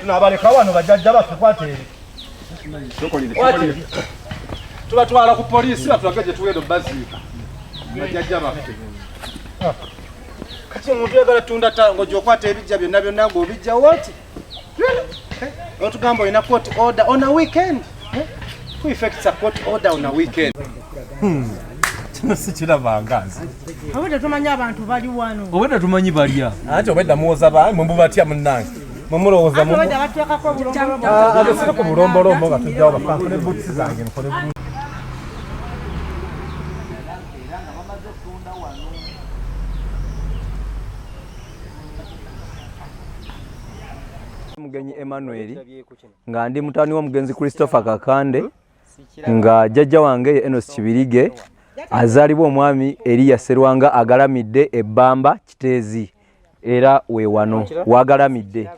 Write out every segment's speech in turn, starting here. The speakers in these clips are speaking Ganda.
tunabaleka wano bajajja baffe kwateri tubatwala ku polisi batulage gye tuweera baziika bajajja baffe kati omuntu yagala tunda tango gyokwata ebijja byonna byonna ngaobijja wati otugamba olina koti order on a weekend Eh? Who effects a court order on a weekend? Hmm. kino sikirabanga nze obwedda tumanyi abantu bali wano obwedda tumanyi balya anti obwedda muwoza ba mwe mubatya munnange mwe mulowooza abesire ku bulombolombo nga tujjawo bafankole buutusi zange nkole mugenyi emmanuel nga ndi mutani w'omugenzi christopher kakande nga jajja wange ye enos kibirige azaalibwa omwami eriya serwanga agalamidde ebbamba kiteezi era we wano wagalamidde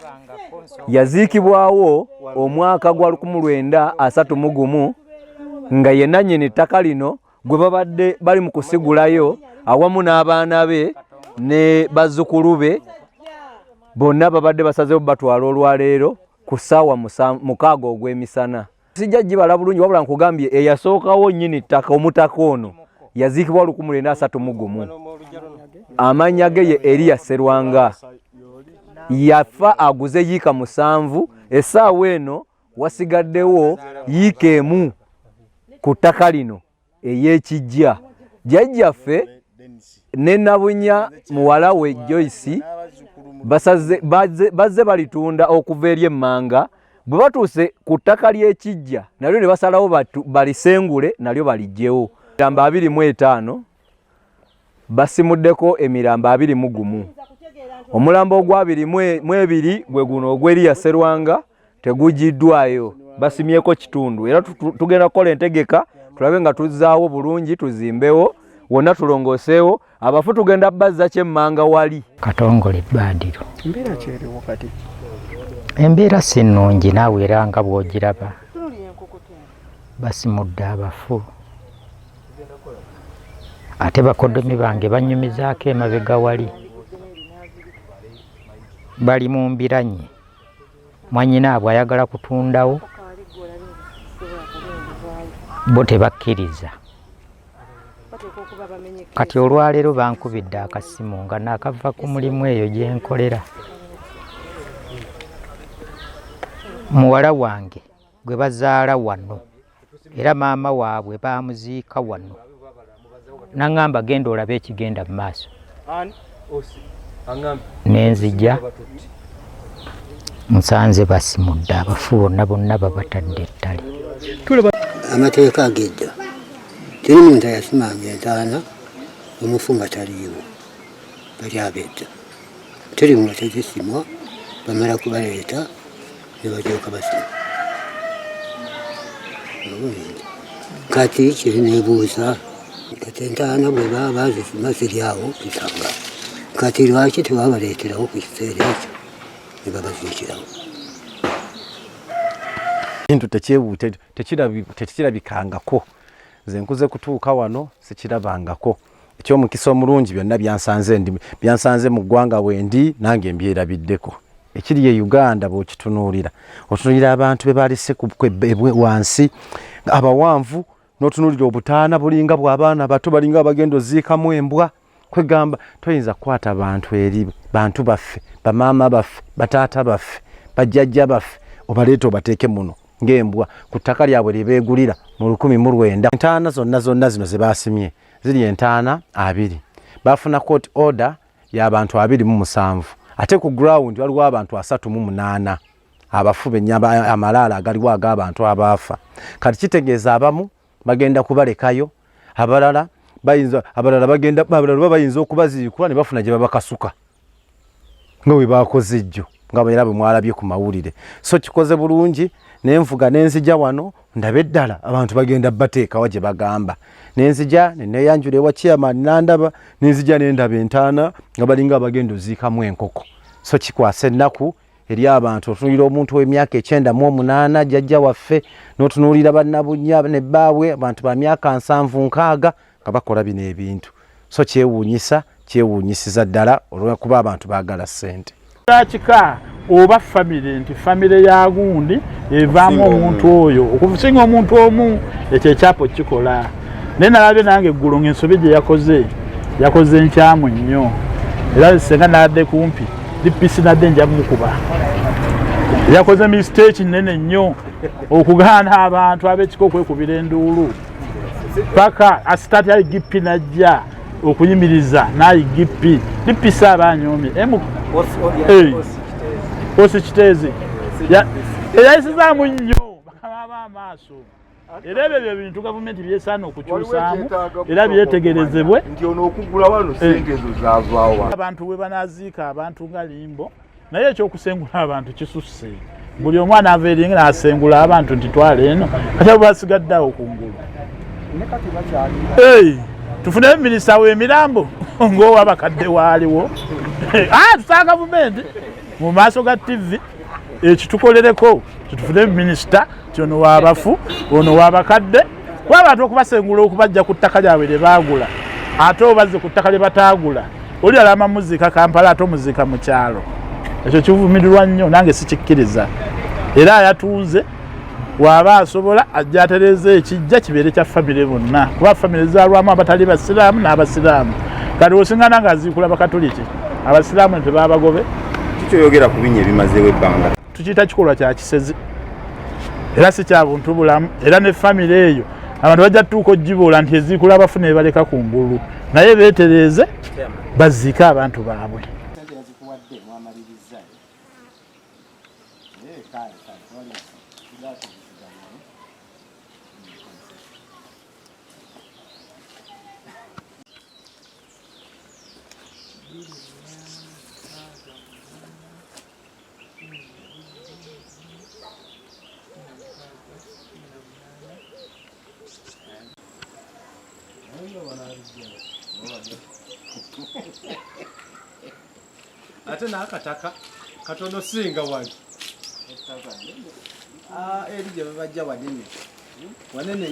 yaziikibwawo omwaka gwa 1931 nga yenanyini ettaka lino gwe babadde bali mu kusigulayo awamu n'abaana be ne bazzukulu be bonna babadde basazewo batwala olwaleero ku ssaawa mukaaga ogw'emisana. Sijja gibala bulungi wabula nkugambye eyasookawo nnyini ttaka omutaka ono yaziikibwa luku mulenda asatu mu gumu amannya ge ye eriya serwanga yafa aguze yiika musanvu essaawa eno wasigaddewo yiika emu ku ttaka lino ey'ekijja jjajjaffe ne nabunya muwala we joyce bazze balitunda okuva eri emmanga bwe batuuse ku ttaka ly'ekijja nalyo ne basalawo balisengule nalyo balijjewo gamba abiri mu etaano basimuddeko emirambo abiri mu gumu omulambo ogwabiri mu ebiri gwe guno ogw'eriya serwanga tegugiddwayo basimyeko kitundu era tugenda kukola entegeka tulabe nga tuzzaawo bulungi tuzimbewo wonna tulongooseewo abafu tugenda bazza kyemmanga wali katongole ebbandiro embeera kyeriwo kati embeera si nnungi naawe era nga bw'ogiraba basimudde abafu ate bakodomi bange banyumizaako emabega wali bali mu mbiranyi mwanyinaabwe ayagala kutundawo bo tebakkiriza kati olwaleero bankubidde akasimu nga nakava ku mulimu eyo gyenkolera muwala wange gwe bazaala wano era maama waabwe baamuziika wano naŋŋamba genda olabe ekigenda mu maaso nenzija nsanze basimudde abafu bonna bonna babatadde ettale amateeka agejja teri muntu ayasimanga entaana omufu nga taliiwo bali abejja teri mu bategesimwa bamala kubaleeta ne balyoka basima kati kiri nebuuza kati entaana bwe baba bazisima ziri awo nsanga kati lwaki tewabaleeterawo ku kiseera ekyo ne babaziikirawo kintu tekirabikangako nze nkuze kutuuka wano sikirabangako ekyomukisa omulungi byonna byansanze ndi byansanze mu ggwanga wendi nange mbyerabiddeko ekiri ye uganda bwokitunuulira otunuulira abantu be balese wansi abawanvu notunuulira obutaana bulinga bwabaana bato balinga abagenda oziikamu embwa kwegamba toyinza kukwata bantu eri bantu baffe bamaama baffe bataata baffe bajjajja baffe obaleeta obateeke muno ng'embwa ku ttaka lyabwe lye beegulira mu lukumi mu lwenda. Entaana zonna zonna zino ze baasimye ziri entaana abiri. Baafuna court order y'abantu abiri mu musanvu ate ku ground waliwo abantu asatu mu munaana abafu bennyaba amalaalo agaliwo ag'abantu abaafa. Kati kitegeeza abamu bagenda kubalekayo abalala bayinza abalala bagenda abalala baba bayinza okubaziikula ne bafuna gye babakasuka nga bwe baakoze ejjo nga era bwe mwalabye ku mawulire so kikoze bulungi ne nvuga ne nzija wano ndabe ddala abantu bagenda bateekawa gye bagamba ne nzija ne neyanjula ewa chairman nandaba ne nzija ne ndaba entaana nga balinga abagenda oziikamu enkoko so kikwasa ennaku eri abantu otunuulira omuntu w'emyaka ekyenda mu omunaana jajja waffe n'otunuulira bannabunya ne bbaabwe abantu ba myaka nsanvu nkaaga nga bakola bino ebintu so kyewuunyisa kyewuunyisiza ddala olwokuba abantu baagala ssente kika oba famire nti famire ya gundi evaamu omuntu oyo okusinga omuntu omu ekyo ekyapo kikola naye nalabye nange eggulu ngaensobi gye yakoze yakoze enkyamu nnyo era senga nadde kumpi dipisi nadde nja mukuba yakoze misteeki nnene nnyo okugaana abantu abekika okwekubira enduulu paka asitati ayi gipi najja okuyimiriza nayi gipi dipisi aba anyomi osi kiteezi eyayisizaamu nnyo bakababa amaaso era ebyo bye bintu gavumenti byesaana okukyusaamu era byetegerezebwe nti ono okugula wano eh. sente ezo zavaawa abantu we banaziika abantu nga limbo naye ekyokusengula abantu kisusse buli omwana ava eringa nasengula abantu nti twala eno kati abo basigadde awo kungulu tufuneyo minisita wemirambo ngaowabakadde waaliwo ah, tusaa gavumenti mu maaso ga tivi ekitukolereko eh, titufune minisita nti ono wabafu ono wabakadde kuba abantu okubasengula okubajja ku ttaka lyabwe lye baagula ate obazze ku ttaka lye bataagula oli alama muziika kampala ate omuziika mu kyalo ekyo kivumirirwa nnyo nange sikikkiriza era ayatunze waaba asobola ajja atereeza ekijja kibeere kya famire bonna kuba famire zalwamu abatali basiraamu n'abasiraamu kati osingana ng'aziikula bakatuliki abasiraamu tebabagobe kikyoyogera ku binya ebimazeewo ebbanga tukiyita kikolwa kya kisezi era si kya buntu bulamu era ne famire eyo abantu bajja tutuuka ogibuula nti eziikula abafuna ebaleka ku ngulu naye beetereeze baziike abantu baabwe ate nakataka katono singa wali ah, eri gyebabajja wanene wanene